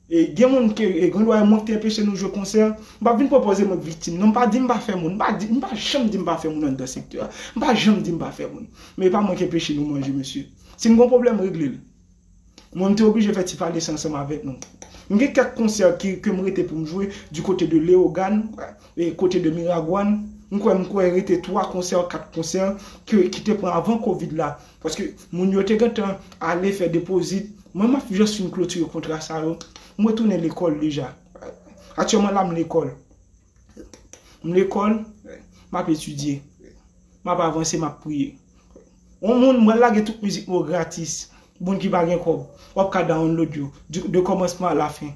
e gen moun ke e gen dwa e mwen ki te enpeche nou jwe konsè, m pa vin pwopoze mwen k viktim non, m pa di m pa fè moun, m pa di, m pa janm di m pa fè moun anndan sektè a, m pa janm di m pa fè moun, men e pa mwen ki enpeche nou manje mesye. Si n gen yon pwoblèm regle l. Mwen m te oblije fè ti pale sa ansanm avèk nou. M gen kèk konsè ki ke m rete pou m jwe di kote de Leyogàn, e kote de Miragwàn. M kwè m kwè rete 3 konsè, 4 konsè ke ki te pran avan kovid la. Paske moun yo te gentan ale fè depozit. Mwen m ap just fin klotire kontra sa yo. M retounen lekòl deja. Aktyèlman la m lekòl. M lekòl, m ap etidye. M ap avanse, m ap priye. On moun mwen lage tout mizik mwen yo gratis pou moun ki pa gen kòb wap ka download yo de kòmansman a la fen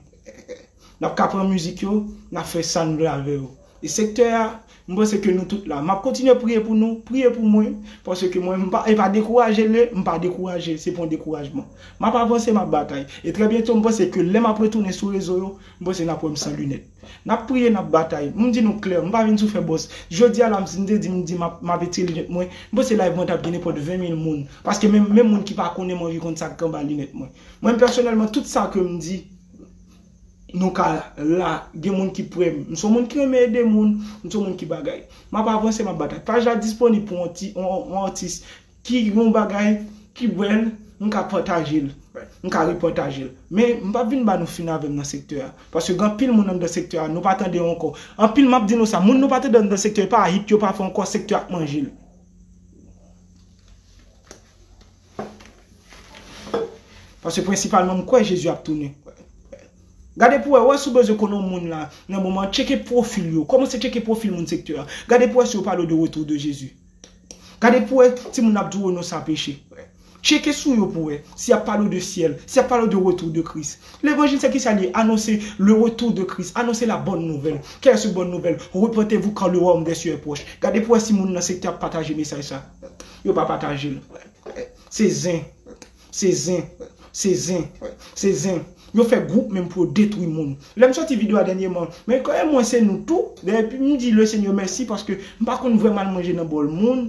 nap ka pran mizik yo nap fè sa nou vle avè yo e sektè a m panse ke nou tout la map kontinye priye pou nou priye pou mwen paske mwen m pa e pa dekouraje le m pa dekouraje se pa yon dekourajman map avanse map batay e trè byento m panse ke lè map retounen sou rezo yo m panse nap wè m san linèt. N ap priye, n ap batay. M di nou klè, m pa vin sou fè bòs. Jodi a la m si m te di m di m ap m ap etire linèt mwen, m panse live mwen t ap gen nenpòt 20 mil moun. Paske menm menm moun ki pa konnen m anvi konn sa k gen anba linèt mwen. Mwen pèsonèlman tout sa ke m di nou ka la gen moun ki prè m. M s on moun ki renmen ede moun, m s on moun ki bagay. M ap avanse, m ap batay. Paj la disponib pou on ti on on atis Ki yon bagay ki bèl m ka pataje l, m ka repataje l. Men m pap vin ba nou fin avè m nan sektè a. Paske gen anpil moun anndan sektè a nou pa tande yo ankò. Anpil m ap di nou sa, moun nou pa tande anndan sektè e pa hit yo pa fè ankò sektè a k manje l. Paske prensipalman m kwè Jezi ap tounen. Gade pou wè, wè si w bezwen konnen yon moun la nan moman an, tcheke pwofil yo. Kòmanse tcheke pwofil moun sektè a. Gade pou wè si yo pale w de retou de Jezi. Gade pou wè timoun ap di w non sa peche. Tcheke sou yo pou wè si y ap pale w de syèl, si y ap pale w de retou de Kris. Levanjil se kisa li ye? Anonse le retour de Christ, anonse la bonne nouvelle. Quelle est cette bonne nouvelle? Repentez-vous car le royaume des cieux est proche. Gade pou wè si moun nan sektè ap pataje mesaj sa. Yo pa pataje l. Se zen. Se zen. Se zen. Se zen. Yo fè group menm pou yo detwi moun. Lèm soti video a dènyeman, men kòe mwen se nou tou, dayè pi m di le Seigneur mèsi paske m pa konn vrèman al manje nan bòl moun,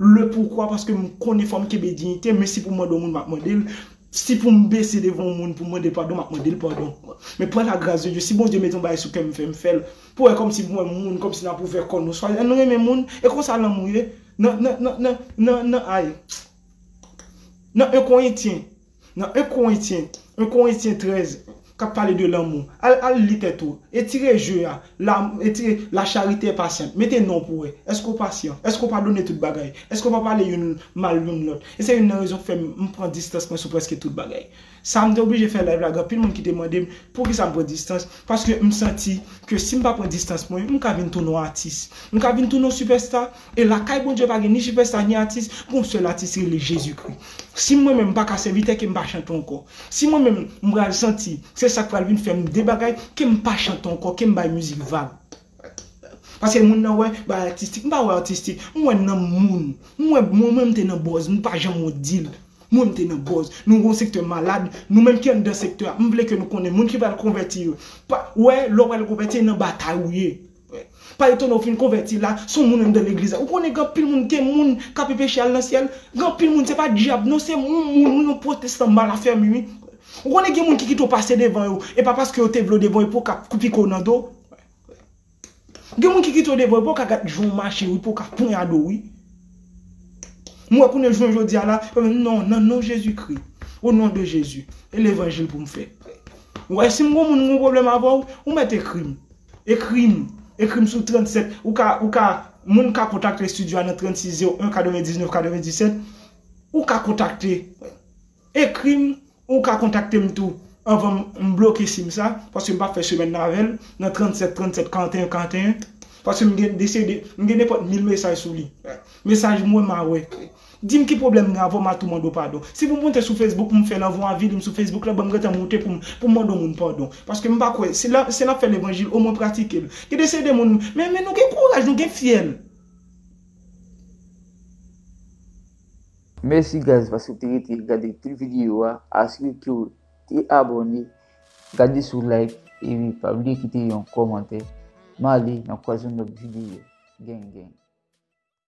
le pourquoi paske m konnen fò m kenbe dignité, men si pou m mande yon moun map mande l, si pou m bese devan yon moun pou m mande l padon map mande l padon. Men pran la grâce de Dieu, si Bondye mete yon bagay sou kè m fè m fè l, pou wè kòmsi m wè moun kòmsi nap ouvè kò nou, swa ann renmen moun, e konsa lanmou ye, nan nan nan nan nan nan ayy. Nan 1 Korentyen, nan 1 Korentyen, 1 Korentyen 13, k ap pale de lanmou. Al, al li tèt ou. Etire je a. La, etire, La charite est patiente. Mete non pou wè. Èske ou pasyan? Èske ou padone tout bagay? Èske ou pa pale youn mal youn lòt? E se youn nan rezon k fè m pran distans mwen sou prèske tout bagay. Sa m te oblije fè live la gen anpil moun ki te mande m poukisa m pran distans paske m santi ke si m pa pran distans mwen m ka vin tounen yon atis m ka vin tounen yon sipèsta e lakay Bondye pa gen ni sipèsta ni atis gen yon sèl atis rele Jezikri si mwen menm m pa ka sèvitè ke m pa chante ankò si mwen menm m pral santi se sa k pral vin fè m de bagay ke m pa chante ankò ke m bay mizik vag. Paske moun nan wè bagay atistik. M pa wè atistik. M wè nanm moun. M wè mwen menm m te nan bòz. M pa janm wont di l. Mwen m te nan bòz. Nou gon sektè malad. Nou menm ki anndan sektè a. M vle ke nou konnen. Moun ki pral konvèti yo. Pa wè lè w pral konvèti e nan batay ou ye. Pa etone ou fin konvèti la. S on moun anndan legliz la. Ou konnen gen anpil moun gen moun k ape peche al nan syèl. Gen anpil moun se pa dyab non se yon moun wi yon pwotestan mal afèmi wi. Ou konnen gen moun ki kite w pase devan yo, e pa paske yo te vle w devan yo pou yo ka kou pike w nan do. Gen moun ki kite w devan yo pou yo ka gad jan w mache wi, pou yo ka ponyade w wi. M wè kounye jounen jodi a la, yo menm non, nan non Jezi Kri, o non de Jezi, e levanjil pou m fè. Ou wè si m gen yon moun m gen yon pwoblèm avè w, ou mèt ekri m. Ekri m, ekri m sou 37, ou ka, ou ka, moun ka kontakte studio a nan 36 01 99 97, ou ka kontakte. Ekrim ou ka kontaktem tou anvan m bloke sim sa paske m pap fè semèn nan avèl nan 37 37 41 41 paske m gen dese de m gen nenpòt mil mesaj sou li mesaj m wè ma wè dim ki pwoblèm gen avèw ma tou mande w padon si pou m moute sou Facebook pou m fèl anvan w avili m sou Facebook lan banm gentan moute pou m pou m mande w moun padon paske m pa kwè si la si lap fè levanjil omwen pratike l gen dese de moun men men nou gen kouraj nou gen fyèl. Mèsi guys paske w te rete gade tout video a, asire kew te abone, gade si w like epi pa bliye kite yon kòmantè, male nan kwaz yon lòt video, gang gang.